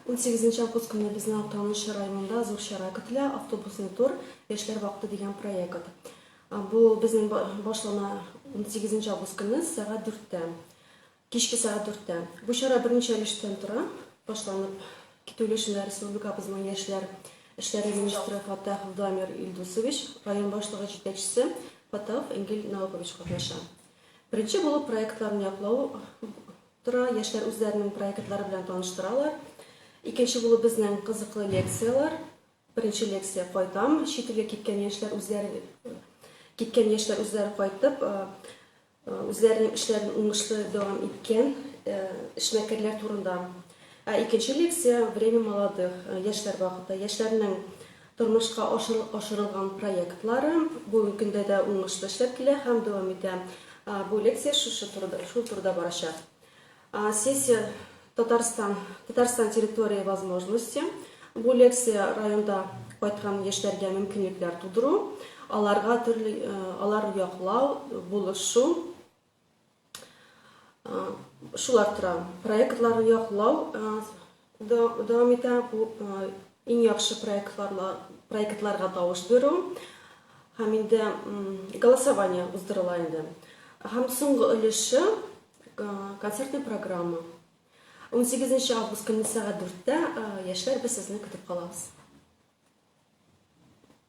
Унсигезенче август көнне безнең Актаныш районында зур чара көтелә, Автобусный тур, Яшьләр вакыты дигән проект. Бу безнең ба- башлана унсигезенче август көнне сәгать дүрттә, кичке сәгать дүрттә. Бу чара берничә өлештән тора. Башланып китү өлешендә республикабызның яшьләр эшләре министры Фаттах Владмир Илдусович, район башлыгы җитәкчесе Фаттаһов Энгель Наукович катнаша. Беренче булып проектларны яклау Тора, яшьләр үзләренең проектлары белән таныштыралар. Икенче булып безнең кызыклы лекцияләр. Беренче лекция Кайтам, чит илгә киткән яшьләр үзләре киткән яшьләр үзләре кайтып, үзләренең эшләрен уңышлы дәвам иткән эшмәкәрләр турында. Ә икенче лекция Время молодых, яшьләр вакыты, яшьләрнең Тормышка ашырылган проектлары бүгенге көндә дә уңышлы эшләп килә һәм дәвам итә. Бу лекция шушы турыда, шул турыда барачак. Сессия Татарстан, Татарстан территории возможности. Бу лекция районда кайткан яшьләргә мөмкинлекләр тудыру, аларга төрле, алар яклау, булышу, Шулар тора. Проектларны яклау дәвам итә. Бу иң яхшы проектларга тавыш бирү һәм инде голосование уздырыла инде. Һәм соңгы өлеше концертная программа. 18 нче август көнне сәгать дүрттә яшьләр без сезне көтеп калабыз.